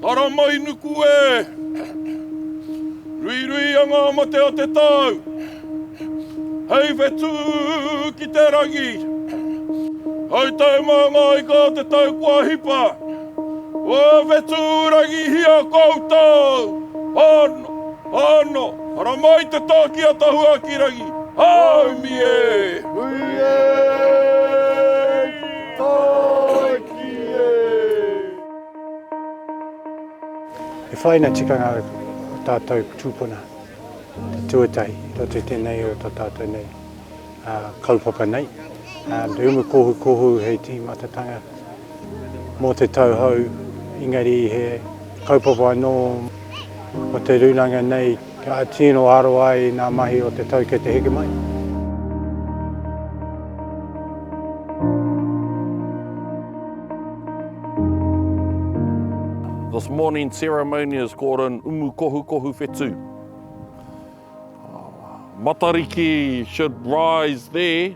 Haramainuku e! Ruirui a ngā mate a te tau! Hei whetū ki te rangi! Hei tae mā ngā ika o te tau kua hipa! Kua whetū rangihia koutou! Hano! Hano! Haramai te tāki a Tahuakirangi! Haumi e! Hui e! Tāiki e! E whaina tikanga o tātou tūpuna, te tuatahi, roto i tēnei o tā tātou nei kaupapa nei. Te umu kohu kohu hei tīmatatanga mō te tauhou, engari he kaupapa anō o te rūnanga nei, Ka tino aro ai i ngā mahi o te tau kei te heke mai. This morning's ceremony is called an umukohukohu whetū. Matariki should rise there.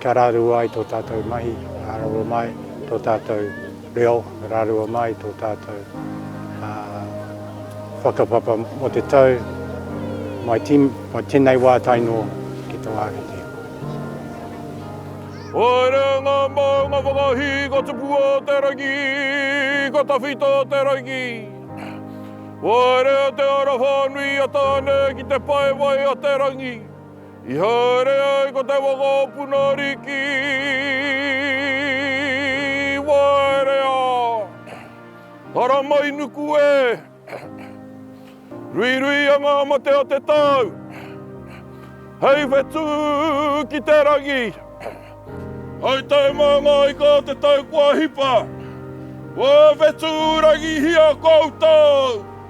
Kia rarua ai tō tātou mahi, rarua mai tō tātou reo, rarua mai tō tātou whakapapa mō te tau mai tēnei wā tae noa ki tō ākete. Haere ngā maunga whakahī ka tupu o te rangi, ka tawhito te rangi. Waerea te ara whānui a Tāne ki te pae wai a te rangi. I haere ai ko te waka o Punariki i waerea, haramai nuku e, ruiruia ngā mate o te tau, hei whetū ki te rangi. Hai tau mā ngā ika o te tau kua hipa, kua whetūrangihia koutou.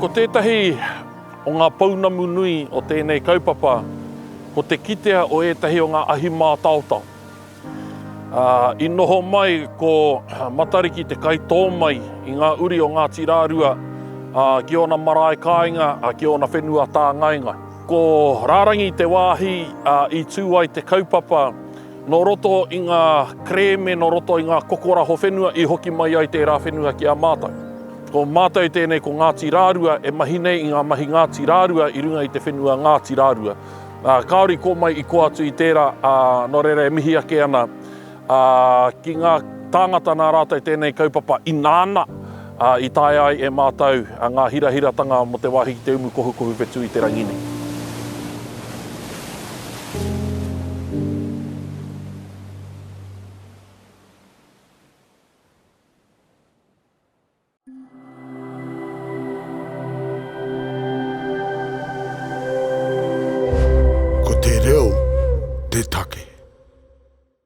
Ko tētahi o ngā pounamu nui o tēnei kaupapa ko te kitea o ētahi o ngā ahi mātaotao. I noho mai ko Matariki te kaitō mai i ngā uri o Ngāti Rārua ki ōna marae kāinga, ki ōna whenua tāngainga. Ko Rārangi te wāhi i tū ai te kaupapa Nō roto i ngā kerēme, nō roto i ngā kokoraho whenua i hoki mai ai tērā whenua ki a mātou. Ko mātou tēnei ko Ngāti Rārua e mahi nei i ngā mahi Ngāti Rārua i runga i te whenua Ngāti Rārua. Kāore i kō mai i kō atu i tērā, ā, nō reira e mihi ake ana ki ngā tāngata nā rātou tēnei kaupapa ināna, ā, i taea ai e mātou ngā hirahiratanga mō te wāhi ki te umu kohukohu whetū i te rangi nei. Ko te reo te take.